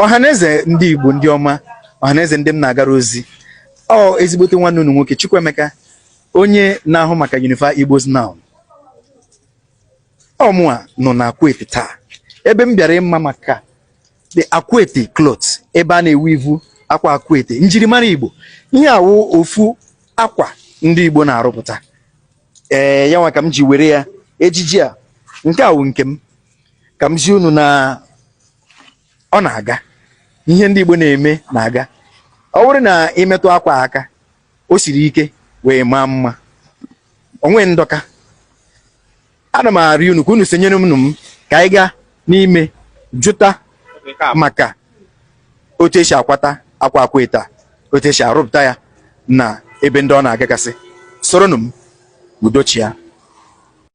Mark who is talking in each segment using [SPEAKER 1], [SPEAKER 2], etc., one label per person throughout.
[SPEAKER 1] ọhaneze ndị Igbo ndị ọma ọhaneze ndị m na-agara ozi ọ ezigbote nwanne unu nwoke Chukwuemeka onye na-ahụ maka Unify Igbos Now ọ mụwa nọ na Akwete taa ebe m bịara ịma maka the Akwete cloth ebe a na-eweave akwa Akwete njirimara Igbo ihe a wụ ofu akwa ndị Igbo na-arụpụta ee ya nwa ka m ji were ya ejiji a nke a wụ nke m ka m zi unu na ọ na-aga ihe ndị Igbo na-eme na-aga ọ bụrụ na i metụ akwa aka o siri ike wee maa mma o nwe ndọka ana m arịọ unu ka unu sonyere m m ka anyị gaa n'ime jụta maka otu e si akwata akwa akwete otu e si arụpụta ya na ebe ndị ọ na-agagasị soronụ m udo chịa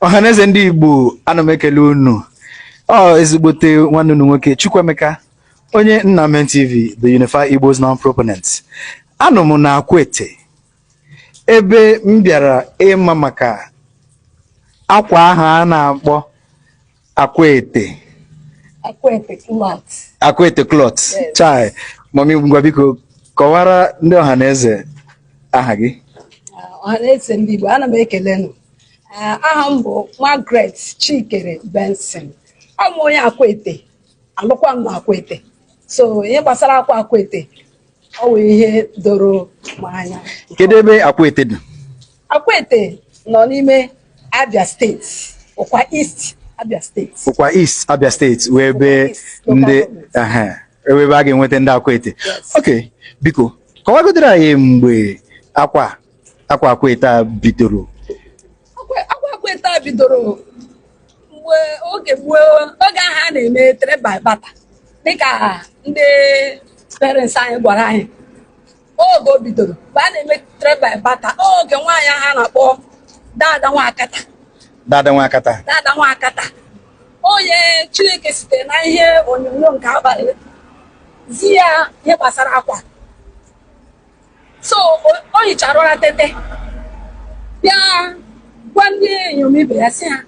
[SPEAKER 1] ọhaneze ndị igbo ana m ekele unu ọ ezigbote nwanne unu nwoke chukwuemeka onye nnamen tv the unify igbos now proponent anọ m na akwete ebe m bịara ịma maka akwa ahụ a na-akpọ Akwete. Akwete cloth. Akwete cloth. Yes. Chai. Mami ngwa biko kọwara ndị ọha na eze aha gị. Ah, ọha na eze ndị Igbo ana m ekele unu. Ah, aha m bụ Margaret Chikere Benson. Awụ m onye Akwete. Alụkwa m na Akwete. So ihe gbasara akwa Akwete ọ wụ ihe doro m anya kedu ebe akwete dị akwete nọ n'ime abia steeti ụkwa east abia steeti ụkwa east abia steeti wụ ebe ndị ebe a ga-enweta ndị akwete ok biko kọwagodoro anyị mgbe akwa akwa akwete a bidoro akwa akwete a bidoro mgbe oge gboo oge ahụ a na-eme trade by barter dịka ndị parents anyị gwara anyị oge o bidoro mgbe a na-eme trade by barter oge nwaanyị ahụ a na-akpọ dada nwakata dada nwakata dada nwakata onye chineke site na ihe onyonyo nke abalị zi ya ihe gbasara akwa so o hichara ụra tete bịa gwa ndị inyom ibe ya sị ha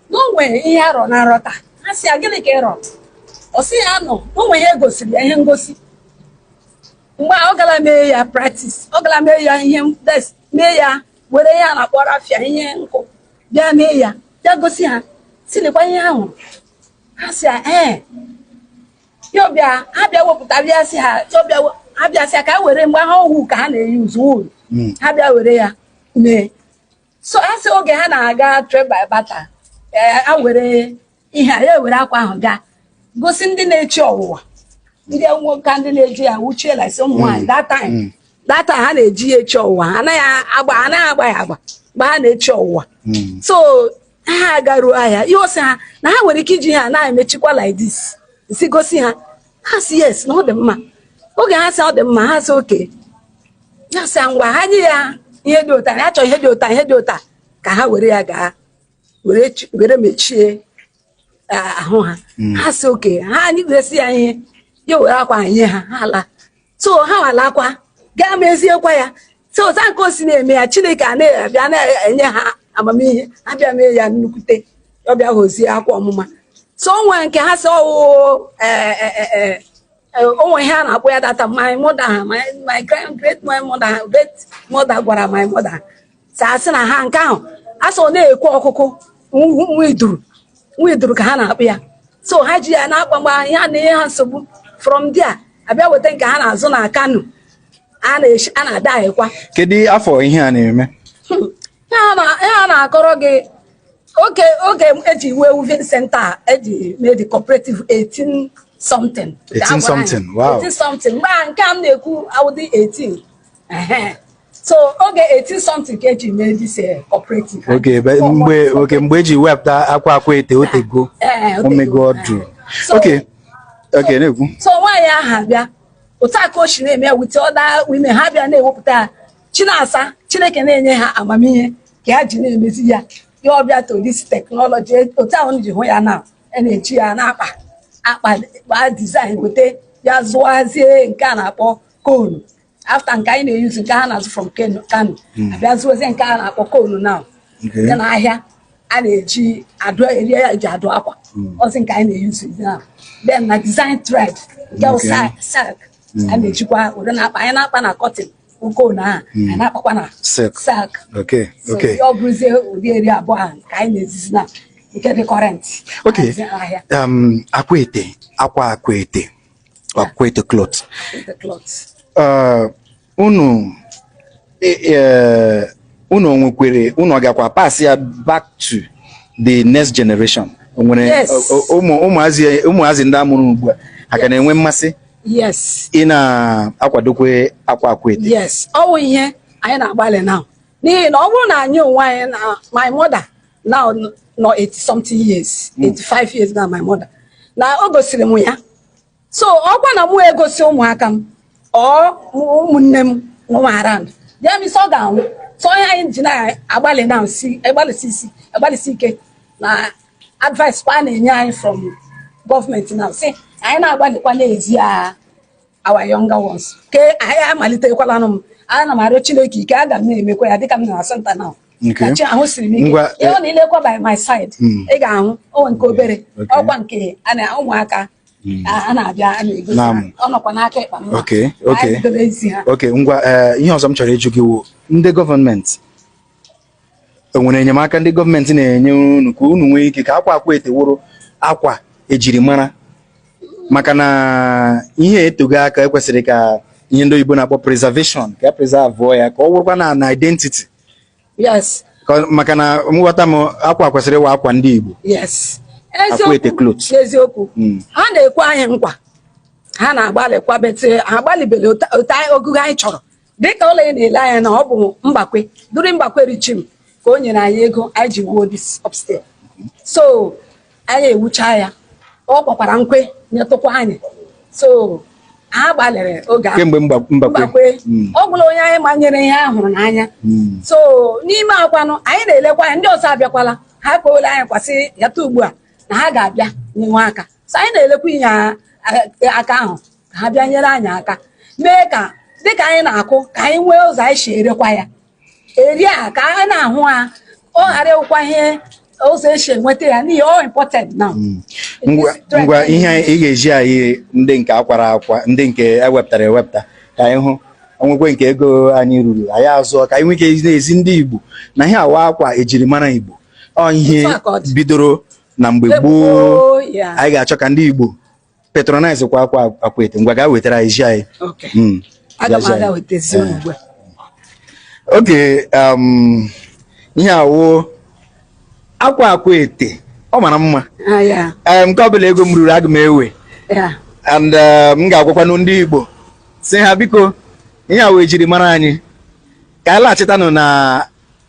[SPEAKER 1] na o nwere ihe ya rọ na nrọ taa ha sị ya gịnị ka ị rọ ọ sị ya na o nwere ihe e gosiri ya ihe ngosi mgbe a ọ gara mee ya practice ọ gara mee ya ihe ee mee ya were ihe a na-akpọ rafia ihe nkụ bịa mee ya bịa gosi ha sị lekwa ihe ahụ ha sị ya ee Chiọbịa abịa wepụta bịa sị ha Chiọbịa abịa sị ha ka ha were mgbe ha owu ka ha na-eyuzu wuru hmm. ha bịa were ya mee so a sị oge ha na-aga travel bata eh, a were ihe a ya ewere akwa ahụ gaa gosi ndị na-echi ọwụwa ndị nwoke ndị na-eji ya wuchie lasi ụmụ nwaanyị hmm. that time hmm. that time ha na-eji ya echi ọwụwa anaghị agba anaghị agba ya agba mgbe ha na-echi ọwụwa so ha agaruo ahịa ihe ọ sị ha na ha nwere ike iji ha na-emechikwa like this si gosi ha ha sị yes na ọ dị mma oge ha sị ọ dị mma ha sị okay ya sị ngwa ha nye ya ihe dị ụta ya chọọ ihe dị ụta ihe dị ụta ka ha were ya gaa were mechie ahụ ha hmm. ha sị okay ha anyị gosi ya ihe ya were akwa nye ha ha laa so ha alakwa gaa meziekwa ya so ọza nke o si na-eme ya chineke a na-abịa na-enye ha amamihe ha abịa mee ya nnukwute ọbịa ghọzie akwa ọmụma so o nwe nke ha sị ọ wụ eh, eh, eh, o nwe ihe a na-akpọ ya data my mother my great great my mother great mother gwara my mother a sị na ha nke ahụ a sọ na-ekwu ọkụkụ nwa iduru nwa iduru ka ha na-akpọ ya so ha ji ya na-akpa mgbe ya na-enye ha nsogbu from there a bịa weta nke ha na-azụ na kano a na-ada ahịkwa kedu afọ ihe a na-eme hmm. ihe a na-akọrọ gị oge oge eji iwe weaving center eji mee the cooperative 18 something 18 something wow 18 something mgbe nke a m na-ekwu awụdị 18 so oge 18 something ka eji mee this eh, cooperative oge mgbe oge mgbe eji wepụta akwa Akwete o teego eh, o meego ọdụ okay okay na-ekwu so nwaanyị aha bịa otu a ka o si na-eme with other women ha bịa na-ewepụta ya chinasa chineke na-enye ha amamihe ka ya ji na-emezi ya ya ọbịa to this technology otu ahụ i ji hụ ya now a na-eji ya na-akpa akpa kpaa design weta ya zụazie nke a na-akpọ konu after nke anyị na-eyuzu nke ha na-azụ from Kano hmm. a bịa zụọzie nke a na-akpọ konu na dị n'ahịa a na-eji adụ eri ya eji adụ akwa hmm. ọ wụzi nke anyị na-eyuzu na then na design thread nke silk hmm. a na-ejikwa ụdị na-akpa anyị na-akpa na cotton konu ahụ anyị na-akpakwa na silk ọ bụrụzie ụdị eri abụọ ahụ ka anyị na-ejizi na nke dị current um, Akwete akwa Akwete Akwete cloth. Uh, unu e, e, unu o nwekwere unu ọ gakwa pass ya back to the next generation nwere ụmụazị ndị amụrụ ugbu a ha ka na-enwe mmasị ị na-akwado ikwe akwa Akwete yes ọ wụ ihe anyị na-agbalị now n'ihi na ọ bụrụ na anyị onwe anyị na my mother now nọ 80 something years 85 hmm. years na my mother na o gosiri m ya so ọkwa na mụ egosi ụmụaka m or ụmụnne m nọ around that means ọ ga-anwụ so ọ ya anyị ji na-agbalị na nsi agbalịsi isi agbalịsi ike na advice kwa a na-enye anyị from gọọmenti na-asị anyị na-agbalịkwa na-ezi ha our younger ones ke anyị amalitekwalana m ana m arịọ Chineke ike aga m na-emekwa ya dịka m na asanta na chi ahụ siri m ike i lekwa by my side hmm. ị ga-ahụ o nwe nke obere ọkwa nke ụmụaka hmm. ha na-abịa a na-egosi ọ nọkwa n'aka ịkpa mma anyị dobe ezi ha okay ngwa eh, ihe ọzọ m chọrọ ịjụ gị wụ ndị gọọmenti o nwere enyemaka ndị gọọmenti na-enye unu ka unu nwee ike ka akwa Akwete wụrụ akwa ejiri mara maka na ihe a etego aka e kwesịrị ka ihe ndị oyibo na-akpọ preservation ka a preserve ya ka ọ wụrụkwa na na identity yes maka na nghọta m akwa a kwesịrị ịwụ akwa ndị Igbo yes eziokwu hmm. ha na-ekwe anyị nkwa ha na-agbalịkwa but ha gbalịbere otu ogogo anyị chọrọ dịka ụlọ a ị na-ele anya na ọ bụ Mbakwe during Mbakwe regime ka o nyere anyị ego anyị ji wuo this upstairs so anyị ewucha ya ọ gbakwara nkwe nyetụkwa anyị so ha gbalịrị oge ahụ kemgbe Mba- Mbakwe Mbakwe Mm. ọ gwụla onye anyị ma nyere ihe a hụrụ n'anya Mm. so n'ime ha kwanụ anyị na-elekwa anya ndị ọzọ abịakwala ha kpowela anyị kwasị yata ugbu a na ha ga-abịa nyewe aka so anyị na-elekwa inye a- a- aka ahụ ka ha bịa nyere anyị aka mee ka dịka anyị na-akụ ka anyị nwee ụzọ anyị si erekwa ya eri a ka anyị na-ahụ ha ọ ghara ịwụkwa ihe ụzọ esi enweta ya n'ihi ọ important now ngwa ngwa ihe anyị- ị ga-ezi anyị ndị nke a kwara akwa ndị nke e wepụtara ewepụta ka anyị hụ o nwekwe nke ego anyị ruru anyị azụọ ka anyị nwee ike na-ezi ndị Igbo na ihe a wụ akwa ejiri mara Igbo ọ ihe Otu a ka ọ dị. bidoro na mgbe Mgbe gboo gboo, ya. anyị ga-achọ ka ndị Igbo patronize kwa akwa Akwete ngwa ga wetara anyị zi anyị okay mm aga m aga wetezi eh. ugbu oge um ihe a wụ akwa Akwete ọ mara mma ah, eh, nke ọ bụla ego m ruru aga m ewe and eh, m ga-agwakwanụ ndị Igbo sị ha biko ihe a wụ ejiri mara anyị ka anyị laghachitanụ na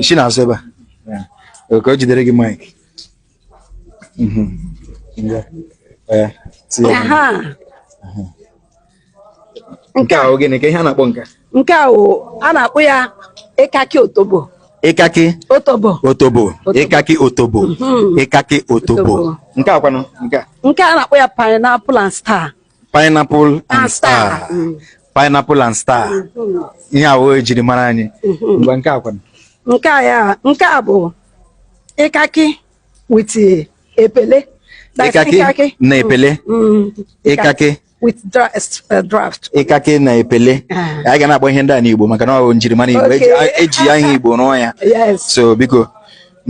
[SPEAKER 1] isi na-asụ ebe a ka o jidere gị mic mhm. nke a gịnị ka ihe a na-akpọ nke a nke a a na-akpọ ya ikaki otobo ikaki otobo otobo ikaki otobo mhm. ikaki otobo nke a kwanụ nke a nke a na-akpọ ya pineapple and star pineapple and star mm. pineapple and star mm-hmm. ihe ahụ e jiri mara anyị mm-hmm. ngwa nke akwa nke a ya nke a bụ ịkakị with epele ịkakị na epele mm-hmm. ịkakị with uh, draft ịkakị na epele anyị ga na-akpọ ihe ndị a n'Igbo maka na ọ njirimara Igbo e ji ihe Igbo rụọ ya so biko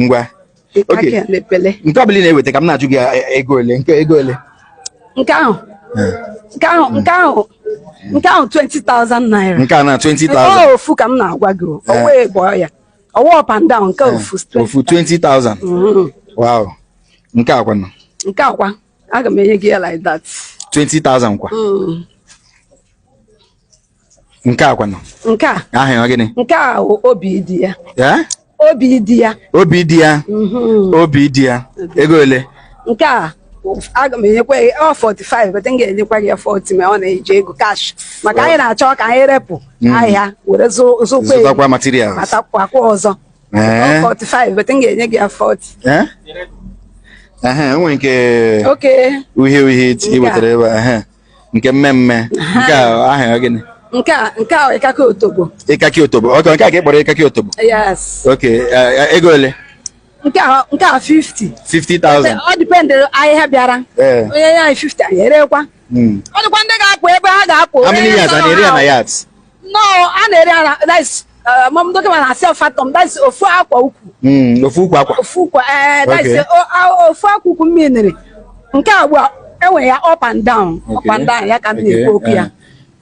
[SPEAKER 1] ngwa nke ọbụla ị na-eweta ka m na-ajụ gị e, e, ego ole nke ego ole nke ahụ nke ahụ nke ahụ nke ahụ 20,000 naira nke a na 20,000 ofu ka m na-agwa gị ọwa egbo ya ọ wụ up and down nke ofu ofu 20,000 mm-hmm. wow nke a kwanụ nke a kwa aga m enye gị ya like that 20,000 kwa mm. nke a kwanụ nke a aha ya ọ gịnị nke a wụ Obidiya Eh? Obidiya Obidiya mhm. Obidiya ego ole nke a aga m enyekwa ya ọ 45 but m ga-enyekwa gị ya 40 ma ọ na-eji ego cash maka anyị na-achọ ka anyị repụ ahịa were zụ- zụkwa ego zụtakwa materials matakwakwa ọzọ Ee. Ọ 45 but m ga-enye gị ya 40 Eh? Ehe, o nwere nke oke uhie uhie i wetara ebe a ehe. nke mmee mmee nke aha ya gịnị nke a nke a ịkakị otobo ịkakị otobo ok nke a ka ị kpọrọ ịkakị otobo yes ok ego ole nke a nke a 50 50,000 ọ dịpendịrị ahịa bịara o nye ya 50 anyị erekwa hmm. ọ dịkwa ndị ga-akpụ ebe ha ga-akpụ how many yards na-ere ya na yards no a na-ere ya that's uh, fathom that's ofu akwa ukwu Mm, ofu ukwu akwa ofu ukwu eh that's Okay. o- a- ofu akwa ukwu mmiri nke a ugbu a enwere ya up and down up Okay. and down ya ka m Okay, na-ekwu okwu ya eh,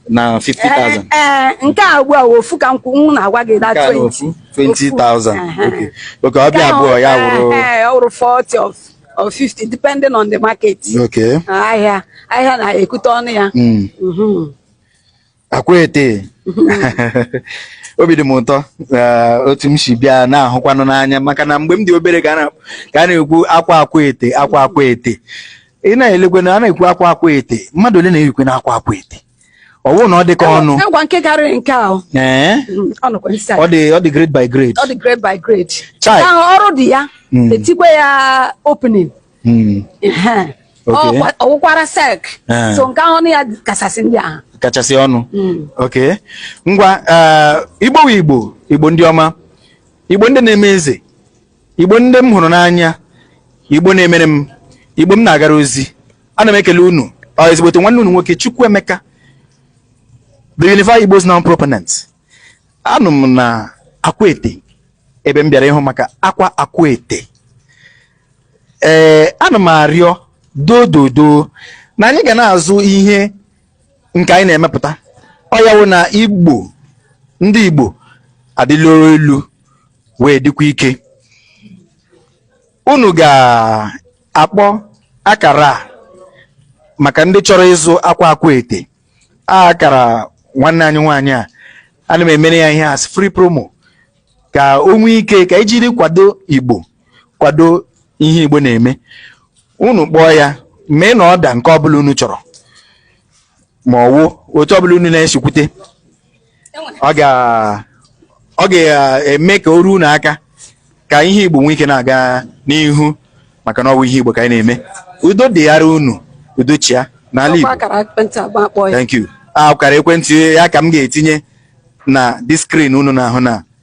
[SPEAKER 1] na 50,000 ee nke a ugbu a wụ ofu ka m kwu- m na-agwa gị that Nke a na 20 ofu, 20,000 Aha. Okay. okay ọ bịa abụọ ya wụrụ Ee, ọ wụrụ 40 of of 50 depending on the market oke ahịa ahịa na-ekute ọnụ ya Mm. Mhm. Akwete obi dị m ụtọ otu m si bịa na-ahụkwanụ n'anya maka na mgbe m dị obere ka a na-ekwu akwa Akwete akwa Akwete ị na-elekwe na a na-ekwu akwa Akwete mmadụ ole na-eyikwanụ akwa Akwete ọ bụrụ na ọ dị ka ọnụ ọ dị ọ dị grade by grade ọ dị grade by grade ọrụ dị ya hmm. etikwe ya opening Hmm. ọ wụkwara sek eh. so nke ọnụ ya kachasị ndị ahụ kachasị ọnụ hmm. ok ngwa eh, igbo igbo igbo ndị ọma igbo ndị na-eme eze igbo ndị m hụrụ n'anya igbo na-emere m igbo m na-agara ozi ana m ekele unu ọ ezigbote nwanne unu nwoke Chukwuemeka the Unified Igbo's non proponent anọ m na Akwete ebe m bịara ịhụ maka akwa Akwete ee ana m arịọ dododo na anyị ga na-azụ ihe nke anyị na-emepụta ọ ya wụ na igbo ndị igbo adịla elu wee dịkwa ike unu ga-akpọ akara a maka ndị chọrọ ịzụ akwa akwete akara nwanne anyị nwaanyị a ana m emere ya ihe as free promo ka o nwee ike ka anyị jiri kwado igbo kwado ihe igbo na-eme unu kpọọ ya mee na order nke ọbụla unu chọrọ ma ọ wụ otu ọbụla unu na-esi kwute ọ ga-eme ka o ruo unu aka ka ihe igbo nwee ike na-aga n'ihu maka na ọ wụ ihe igbo ka anyị na-eme udo dịghara unu udo chịa n'ala igbo thank you akara ekwentị ya ka m ga-etinye na the screen unu na-ahụ na